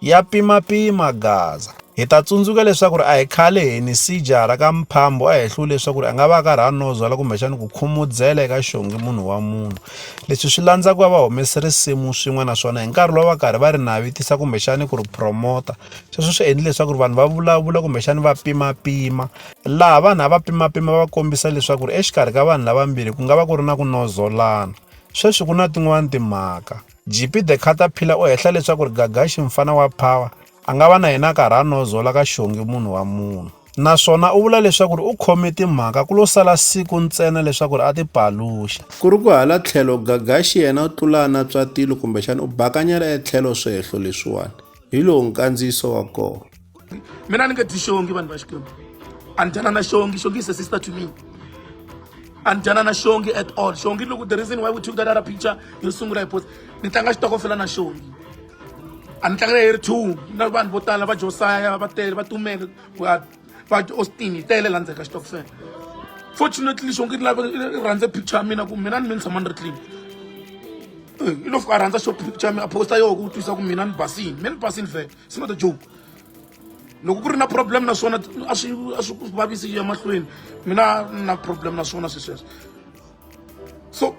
ya pimapima Gaza. Hi ta tsundzuka leswaku ri a hi khale hi ni sijara ka mphambo a hi hluwi leswaku ri a nga va a karhi a nozwala kumbexani ku khumudzela eka xongi munhu wa munhu leswi swi landza ku va va humese risimu swin'we naswona hi nkarhi lowu va karhi va ri navitisa kumbexani ku ri promota sweswo swi endli leswaku ri vanhu va vulavula kumbexani va pimapima laha vanhu a va pimapima va kombisa leswaku ri exikarhi ka vanhu lavambirhi ku nga va ku ri na ku nozolana sweswi ku na tin'wani timhaka Jipi the Caterpillar u hehla leswaku ri Gagaxi mfana wa Power a nga va na yena a karhi a nozola ka Xongi munhu wa munhu. Naswona u vula leswaku ri u khome timhaka ku lo sala siku ntsena leswaku ri a ti paluxa. Ku ri ku hala tlhelo, Gagaxi yena u tlula a natswa tilo kumbexana u bakanyela etlhelo swihehlo leswiwani. hi lowu nkandziyiso wa kona mina ni nge dyi xongi vanhu va xikwembu a ni dyana na xongi xongi is a sister to me a ni dyana na xongi at all xongi loko the reason why we took that other picture yo sungula hi post ni tlanga xitokofela na xongi a ni tlangela hi ri two na vanhu vo tala va josaya va tele va tumele va tiaustin yi tele la ndzeni ka xitokofela fortunately xonke i lava i rhandze picture ya mina ku mina ni mi ni tshama ni ri clean i lo fika a rhandza xo picture ya mina a posta yoho ku twisa ku mina ni basini mina ni basini vhele it's not a joke loko ku ri na problem naswona a swi a swi vavisi ya mahlweni mina na problem naswona swi sweswo so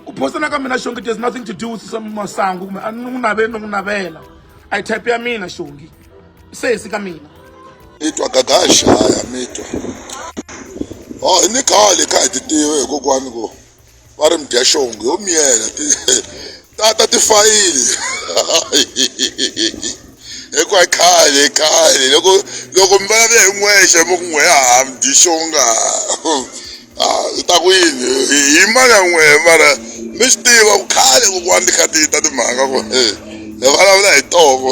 ku phosana ka mina xongi there's nothing to do with some masangu kumbe a ni n'wi naveli ni n'wi navela a yi type ya mina xongi sesi ka mina mi twa gagaxa ya mi twa o oh, hi ni khale kha hi ti tiva hi kokwani ku va ri mudyaxongi yo miyela tata tifayili hikuva khale khale loko loko mi vulavula hi n'wexe mi ku n'we ya ha mi dyi xonga i ta ku yini hi mali ya n'wehe mara mi swi tiva ku khale kokwani ti kha ti ta timhaka ku hi vulavula hi toko